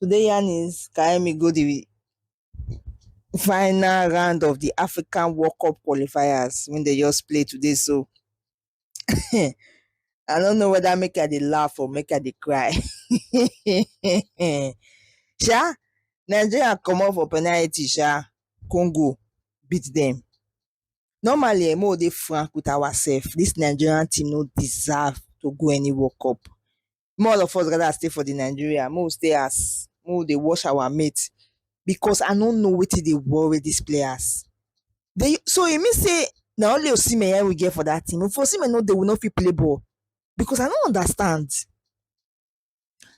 Today yarn is Kaemi go the final round of the African World Cup qualifiers when they just play today. So I don't know whether make her the laugh or make her the cry. sha, Nigeria come up for penalty, sha. Congo beat them. Normally, I'm all frank with ourselves. This Nigerian team no deserve to go any World Cup. Make all of us gather stay for the Nigeria, make we stay house, make we dey watch our mate because I no know wetin dey worry these players. They, so e mean say na only Osimhen yeah we get for that team. If Osimhen no dey, we no fit play ball because I no understand.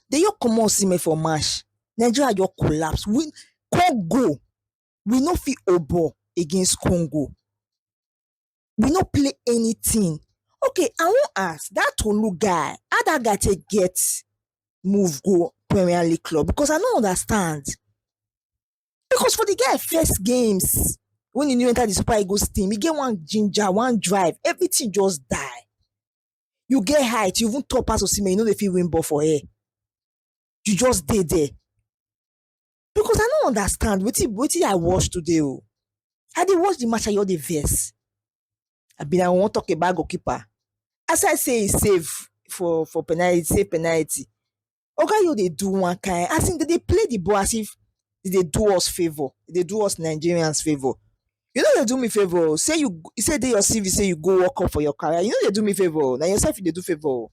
They just comot Osimhen for match, Nigeria just collapse. We Congo, we no fit hold ball against Congo. we no play anything. Okay, I wan ask that Tolu guy, how that guy take get move go Premier League club? Because I no understand. Because for the guy first games when he new enter the Super Eagles team, he get one ginger, one drive, everything just die. You get height, you even top pass Osimhen, you know they feel win ball for air. You just dey there. because i no understand wetin wetin i watch today o i dey watch the match i just dey vex i bin i wan talk about goalkeeper as i say e save for for penalty save penalty oga yo dey do one kind as in dem dey play the ball as if e dey do us favour e dey do us nigerians favour you no dey do me favour o say you you say e dey your cv say you go work up for your career you no dey do me favour o na yourself you dey do favour o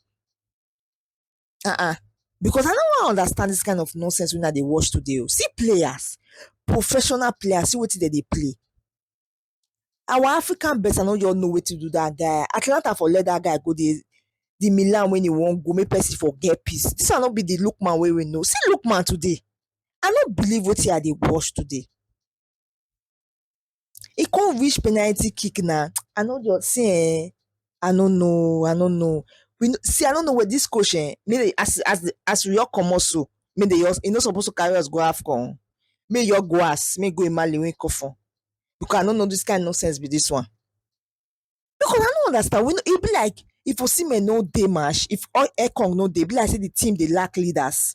um because I no wan understand this kind of nonsense wey una dey watch today oo. See players, professional players, see wetin dem dey play. Our African best I no just know wetin do that guy. Atalanta for let that guy go dey the Milan wey he wan go make person for get peace. This one no be the Lookman wey we know. See Lookman today, I no believe wetin I dey watch today. e come reach penalty kick na I no just see eeh I no know I no know see I no know this coach eeh make as as as we just comot so make dem just e no suppose to carry us go afcon make e just go house make e go emale wey e come from because I no know this kind nonsense be this one because I no understand we no e be like if osimhen no dey match if ekong no dey e be like say the team dey lack leaders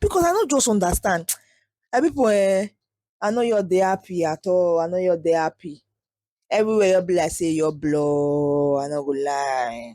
because I no just understand. I people eh, I know you're the happy at all. I know you're the happy. Everywhere you be like say you're blow. I no go lie.